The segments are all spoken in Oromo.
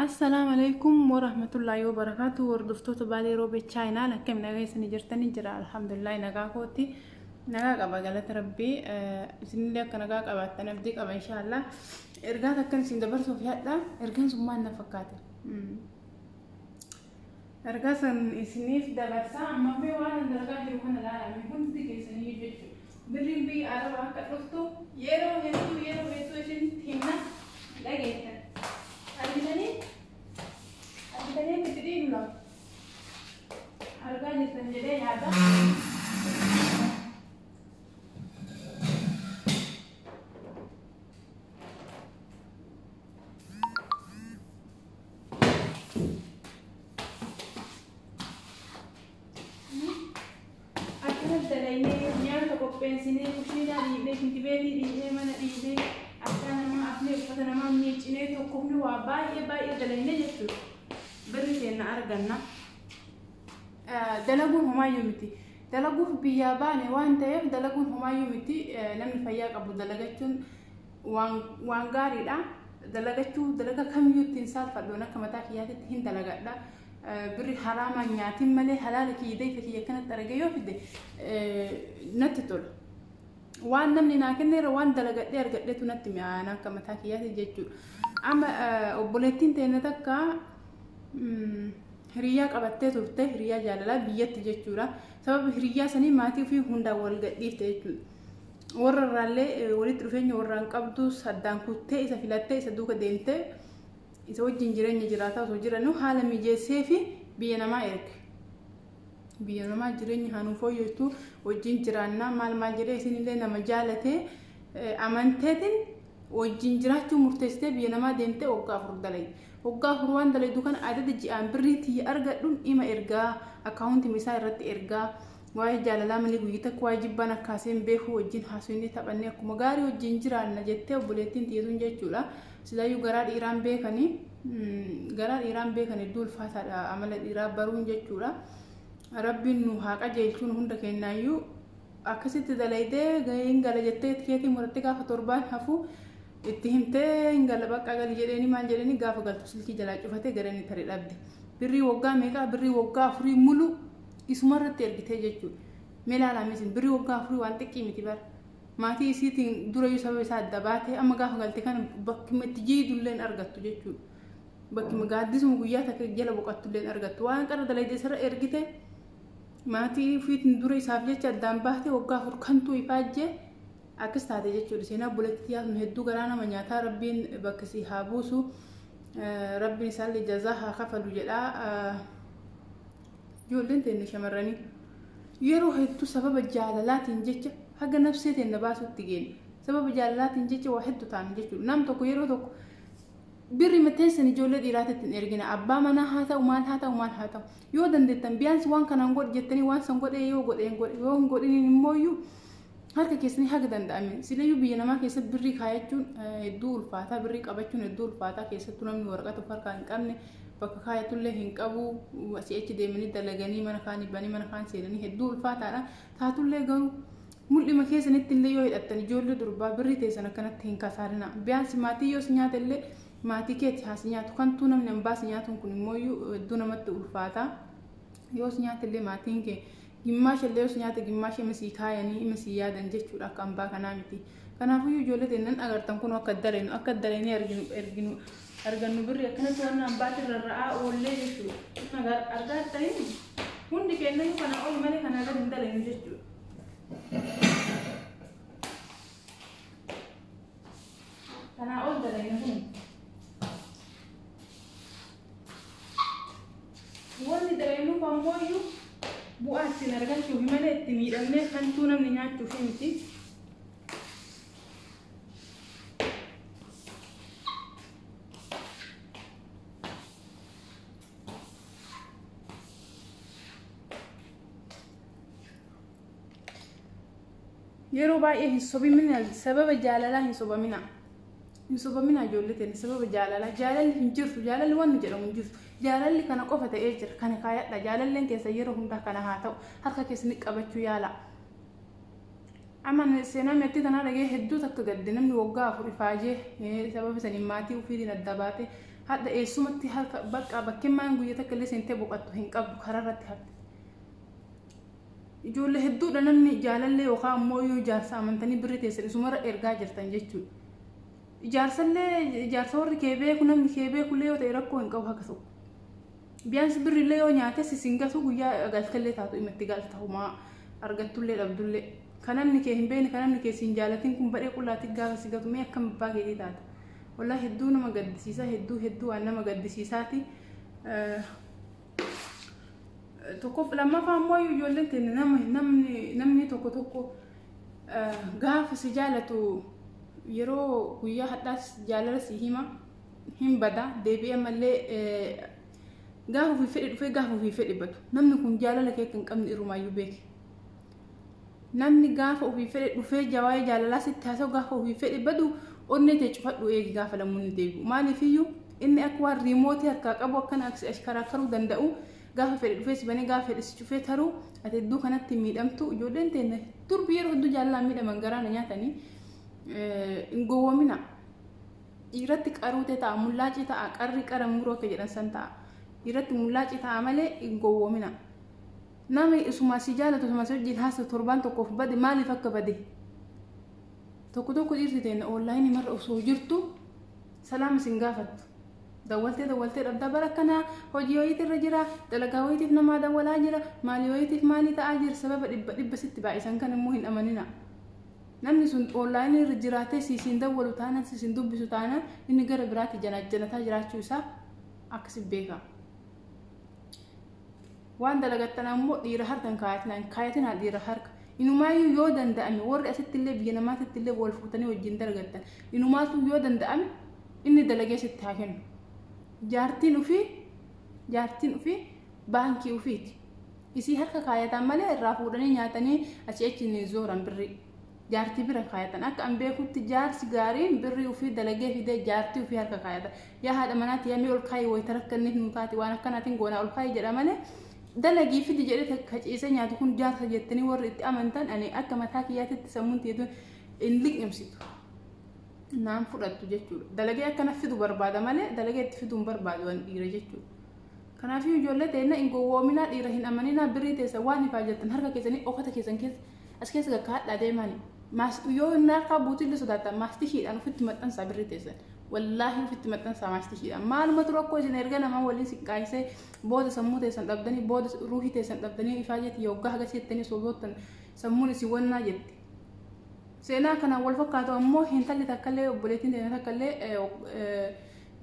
Assalaamu alaikum warahmatullaahi wabarakaatu hordoftoota baalee roobee chaayinaan akkam nagaa isanii jirtanii jira alhamdulillahi nagaa kootti nagaa qaba galata rabbii isinillee akka nagaa qabaattan abdii qaba inshaallah ergaa takkan isin dabarsuuf yaadha ergaan sun maal na fakkaate Ergaa san isiniif dabarsaa ammaffee waan an dalagaa jiru kana laala mee hundi keessanii jechu birriin biyya araba akka dhuftu yeroo hedduu yeroo hedduu isinitti himna hin dhageettan argitanii argitanii akka itti dhiigu lama argaa jirtan jedhee yaada Akkanas dalaynee nyaata qopheessinee kushiinaa dhiibnee shintibeetii dhiibnee mana dhiibnee akkaa namaa afnee uffata namaa miiccinee tokkofni waa baay'ee baay'ee dalaynee jechuudha. Birri keenya arganna. Dalaguun homaayyuu miti. Dalaguuf biyyaa baane waan ta'eef dalaguun homaayyuu miti. Namni fayyaa qabu dalagachuun waan waan gaariidha dalagachuu dalaga kamiyyuu ittiin saalfadhuun akka mataa kiyyaatitti hin dalagadha birri haraamaan nyaatiin malee halaala kiyya dayfa kiyya akkanatti argee yoo fide natti tola waan namni naa kenneera waan dalagadhee argadheetu natti mi'aana akka mataa kiyyaati jechuudha amma obboleettiin teenya takka hiriyyaa qabattee turte hiriyyaa jaalalaa biyyatti jechuudha sababa hiriyyaa sanii maatii ofii hundaan wal gadhiifte jechuudha warra irraallee walitti dhufeenya warraan qabdu saddaan kuttee isa filattee isa duuka deemtee isa wajjin jireenya jiraataa osoo jiranuu haala mijeessee fi biyya namaa erge. Biyya namaa jireenya haa nuu fooyyessu wajjin jiraannaa maal maal jedhee isinillee nama jaalatee amanteetiin wajjin jiraachuu murteessitee biyya namaa deemtee waggaa afur dalagi. Waggaa afur waan dalagdu kana adada ji'aan birrii tiyya argadhuun ima ergaa akkaawuntii isaa irratti ergaa Waa'ee jaalalaa malee guyya takka waa'ee jibbaan akka haaseen beeku wajjin haasofnee taphannee akkuma gaarii wajjin jiraanna jettee obboleettiin tiyyatuun jechuudha. Silaayyuu garaa dhiiraan beekanii garaa dhiiraan beekan hedduu ulfaataadha amala dhiiraa baruun jechuudha. Rabbiin nu haa qajeelchuun hunda kennaayyuu akkasitti dalaydee gahee hin gala jettee tikeetii murattee gaafa torbaan hafu itti himtee hin gala baqqaa gali jedheeni maal jedheeni gaafa galtu silkii jalaa cufatee gara inni tare dhabde. Birrii waggaa meeqaa birrii waggaa afurii muluu Isuma irratti ergitee jechuudha. Mee ilaalaa misin birri waggaa afurii waan xiqqii miti bara. Maatii isiitiin durayyuu sababa isaa adda baatee amma gaafa galte kana bakkuma itti jiidulleen argattu jechuudha. Bakkuma gaaddisuma guyyaa takka jala boqattulleen argattu waan qarra dalayde isarra ergite maatii ofiitiin dura isaaf jecha addaan baatee waggaa afur kantuu ifaajjee akkas taate jechuudha. Seenaa buletti yaasnu hedduu garaa nama nyaataa rabbiin bakka si haa buusu. Rabbiin isaallee jazaa haa kafalu jedhaa. Ijoolleen teenna shamarranii yeroo hedduu sababa jaalalaatiin jecha haga nafsee teenna baasuutti geenna. Sababa jaalalaatiin jecha waa hedduu taana jechuudha. Nam tokko yeroo tokko birri mateessan ijoollee dhiiraatitti hin ergina. Abbaa manaa haa ta'u maal haa ta'u maal haa ta'u. Yoo dandeettan biyaansi waan kanaan godhi jettanii waan san godhee yoo godheen godhe yoo hin godhiniin immoo iyyuu harka keessanii haga danda'ame silayyuu biyya namaa keessatti birrii kaayachuun hedduu ulfaataa birrii qabachuun hedduu ulfaataa keessattuu namni waraqaa tokko harkaa hin qabne bakka kaayatullee hin qabu asii achi deemanii dalaganii mana kaan banii mana kaan seenanii hedduu ulfaataadha taatullee garuu mul'ima keessanitti illee yoo hidhattan ijoollee durbaa birrii teessan akkanatti hin kasaarina biyaansi maatii yoos nyaata illee maatii keeti haasi nyaatu kantuu namni ambaasi nyaatuun kun immoo hedduu namatti ulfaata yoos nyaata illee maatiin kee Gimmaasha illee us nyaate gimmaasha ima sii kaayanii ima sii yaadan jechuudha akka ambaa kanaa miti. Kanaafuyyuu ijoollee teennan agartan kun akka dalenu akka dalenee arginu erginu argannu birri akkanatti waan ambaatiin rarra'aa oollee jechuudha. Kun argaa ta'in hundi keennayyuu kana ol malee kana gad hin dalenu jechuudha. Kanaa ol dalenu hundi. Wanni dalaynuf ammoyyu bu'aa ittiin argachuufi malee itti miidhamnee kantuu namni nyaachuufi miti. Yeroo baay'ee hin sobimina sababa jaalalaa hin sobamina. hin sobamina ijoollee teenya sababa jaalalaa jaalalli hin jirtu jaalalli wanni jedhamu hin jirtu jaalalli kana qofa ta'ee jira kana kaayadha jaalalleen keessa yeroo hundaa kana haa ta'u harka keessanii qabachuu yaala. Amma seenaa meexxii tanaa dhagee hedduu takka gadde namni waggaa afur ifaajee sababa saniin maatii ofiitiin adda baate hadha eessumatti harka bakka bakkeen maan guyya takka illee seentee boqattu hin qabdu karaa irratti hafte. Ijoollee hedduudha namni jaalallee yookaan ammoo yoo ijaarsa amantanii birri teessan isumarra ergaa jirtan jechuudha. Ijaarsallee ijaarsa warri kee beeku namni kee beekullee yoo ta'e rakkoo hin qabu haqa ta'u. Biyaansi birrillee yoo nyaates isin gatuu guyyaa galtellee taatu dhimma itti galta homaa argattullee dhabdullee. Kan namni kee hin beekne kan namni kee siin jaalatin kun badhee qullaatti gaafa si gatu mee akkam abbaa keetii taata. Wallaahi hedduu nama gaddisiisa hedduu hedduu waan nama gaddisiisaati. Tokkoof lammaffaa ammoo ijoolleen teenya nama namni namni tokko tokko eh, gaafa si jaalatu yeroo guyyaa hadhaas jaalala si hima hin bada deebi'ee ammallee eh, gaafa ofii fedhe dhufee gaafa ofii fedhe badu namni kun jaalala kee akka hin qabne irrumaayyuu beeki. Namni gaafa ofii fedhe dhufee jawaa'ee jaalalaa sitti haasa'u gaafa ofii fedhe badu onnee tee cufadhu eegi gaafa lamuunni deebi'u. Maaliifiyyuu inni akka waan riimootii harkaa qabu akkana akka si ashkaraakkaruu danda'u gaafa fedhe dhufee si banee gaafa fedhe si cufee taruu ati hedduu kanatti hin miidhamtu ijoolleen teenna durbi yeroo hedduu jaalalaan miidhaman garaa na nyaatanii hin gowwomina. Dhiiratti qaruutee ta'a mullaacii ta'a qarri qara muroo kee jedhan san ta'a. Dhiiratti mullaacii ta'a malee hin gowwomina. Nami isuma si jaalatu isuma si wajjin haasa'u torbaan tokkoof bade maaliif akka bade tokko tokko dhiirti teenya oonlaayinii marra osoo jirtu salaama isin gaafattu. Dawwaltee dawwaltee dhabdaa bara kanaa hojii wayiitu irra jira dalagaa wayiitiif namaa dawwalaa jira maalii wayiitiif maalii ta'aa jira sababa dhibba dhibba sitti baay'isan kan immoo hin amanina. Namni sun oonlaayinii irra jiraatee si isin dawwalu taanaan si isin dubbisu taanaan inni gara biraatti janaajjanataa jiraachuu isaa akkasi beeka. Waan dalagattan ammoo dhiira harka hin kaayatinaa, hin kaayatinaa dhiira harka. Inumaayyuu yoo danda'ame warri asitti illee biyya namaatitti illee wal fuutanii wajjin dalagattan. Inumaatu yoo danda'ame inni dalagee sitti haa kennu. Jaartiin ofii jaartiin ofii baankii ofiiti. Isii harka kaayataan malee irraa fuudhanii nyaatanii asii achi hin zooran birrii. jaartii bira kaayatan akka an beekutti jaarsi gaariin birrii ofii dalagee fidee jaartii ofii harka kaayata yaa haadha manaatti yaamee ol kaayii wayita rakkanne hin taati waan akkanaatiin goonaa ol kaayii jedha malee dalagii fidi jedhee kaciisee nyaatu kun jaarsa jettanii warri itti amantan ani akka mataa kiyyaatitti sammuun tiyyatu hin liqimsitu naan fudhattu jechuudha dalagee akkana fidu barbaada malee dalagee itti fidu hin barbaadu waan dhiira jechuudha. Kanaafuu ijoollee teenya hin gowwoominaa dhiira hin amaninaa birrii teessa waan ifaa jettan harka keessanii okkota keessan keessa As keessa lakkaa'adhaa deemaani. Maas yoo inni harkaa buutillee sodaatan maastishiidhaan ofitti maxxansaa birri teessan. Wallaahi ofitti maxxansaa maastishiidhaan. Maalumatu rakkoo isin erga namaa waliin siqqaayisee booda sammuu teessan dhabdanii booda ruuhii teessan dhabdanii ifaa jetti yoggaa haga seettanii soboottan sammuun isin wannaa jetti. Seenaa kanaan wal fakkaatu ammoo hintalli takkallee obboleettiin teenya takkallee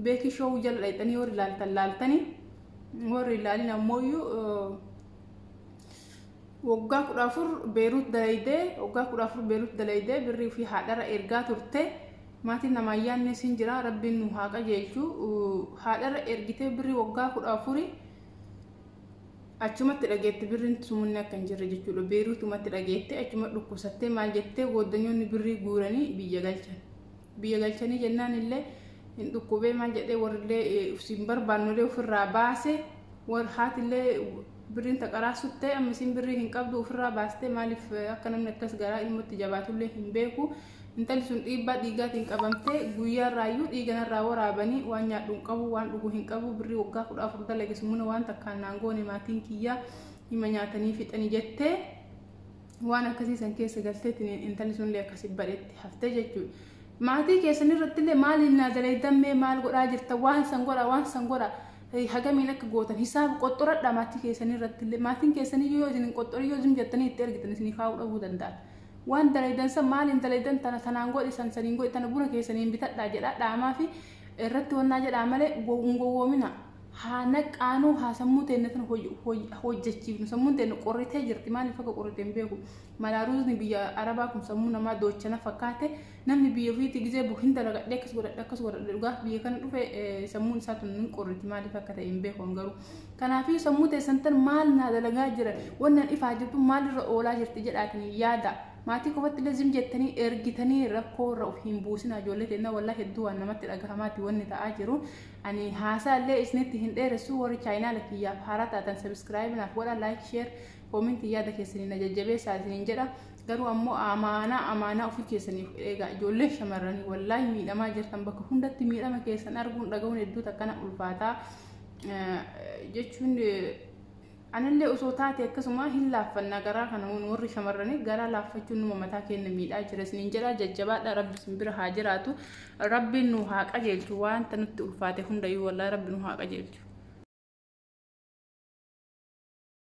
beekii shoowuu jala dhayxanii warri laaltan laaltanii warri ilaalin ammoo iyyuu Waggaa 14 Beeruut dalaydee waggaa 14 Beeruut dalaydee birrii ofii haadhara ergaa turte maatiin namaa yaannees hin jira rabbiin nu haa qajeelchu haadhara ergitee birrii waggaa 14 achumatti dhageette birriin sumunni akka hin jirre jechuudha Beeruutumatti dhageette achuma dhukkubsattee maal jettee gooddanyoonni birrii guuranii biyya galchan biyya galchanii jennaan illee hin dhukkubee maal jedhee warrillee siin barbaannolee ofirraa baase war haatillee Birriin taqaraa suttee amma isiin birrii hin qabdu ofirraa baastee maaliif akka namni akkas garaa ilmootti jabaatullee hin beeku. Intalli sun dhiibbaa dhiigaatiin qabamtee guyyaarraayyuu dhiiga narraa waraabanii waan nyaadhu hin qabu waan dhugu hin qabu birrii waggaa kudha afur dalage sumuna waan takkaan naan goone maatiin kiyyaa hima nyaatanii fixanii jettee waan akkasii san keessa galteetiin intalli sunillee akkasi badhetti haftee jechuudha. Maatii keessan irrattillee maaliin naa dalaydammee maal godhaa jirta waan san godha waan san godha. Hey, hagamiin akka gootan hisaaba qoxxoradha maatii keessanii irratti illee maatiin keessanii yoo isin hin qoxxorin yoo zim jettanii itti ergitan isiniif haa'uu dhabuu danda'an waan dalaydan san maaliin dalaydan tana tanaan godhisan saniin godhi tana buna keessaniin bitadhaa jedhaa dhaamaa fi irratti wannaa jedhaa malee go- hin gowwoomina haa naqaanuu haa sammuu teenne tana hoj- hoj- hojjechiifnu sammuun teenne qorritee jirti maaliif akka qorrite hin beeku malaa ruuzni biyya arabaa kun sammuu namaa doochana fakkaate Namni biyya ofiitti gizee bu hin dalagadhe akkas godhadhe akkas godhadhe dhugaa biyya kana dhufe eh, sammuun isaa tun hin qorriti maaliif akka ta'e hin beeku an garuu. Kanaafuu sammuu teessan tan maal naa dalagaa jira wannan ifaa jirtu maalirra oolaa jirti jedhaatiin yaada. Maatii qofatti illee zim jettanii ergitanii rakkoo irra of hin buusinaa ijoollee teennaa walaa hedduu waan namatti dhagahamaati wanni ta'aa jiru. Ani haasaa illee isinitti hin dheeressu warri chaayinaala kiyyaaf haaraa taatan sabiskiraayibinaaf godha laayik sheer koominti yaada keessaniin na jajjabeessaa isiniin jedha. Garuu ammoo amaanaa amaanaa ofii keessanii of eegaa ijoollee shamarranii wallaahi miidhamaa jirtan bakka hundatti miidhama keessan arguun dhagahuun hedduu takkana ulfaataa jechuun anillee osoo taate akkasuma hin laaffannaa garaa kana warri shamarranii garaa laaffachuun numa mataa keenya miidhaa jira isiniin jedhaa jajjabaadha rabbi isin bira haa jiraatu rabbiin nu haa qajeelchu wanta nutti ulfaate hundayyuu wallaahi rabbi nu haa qajeelchu.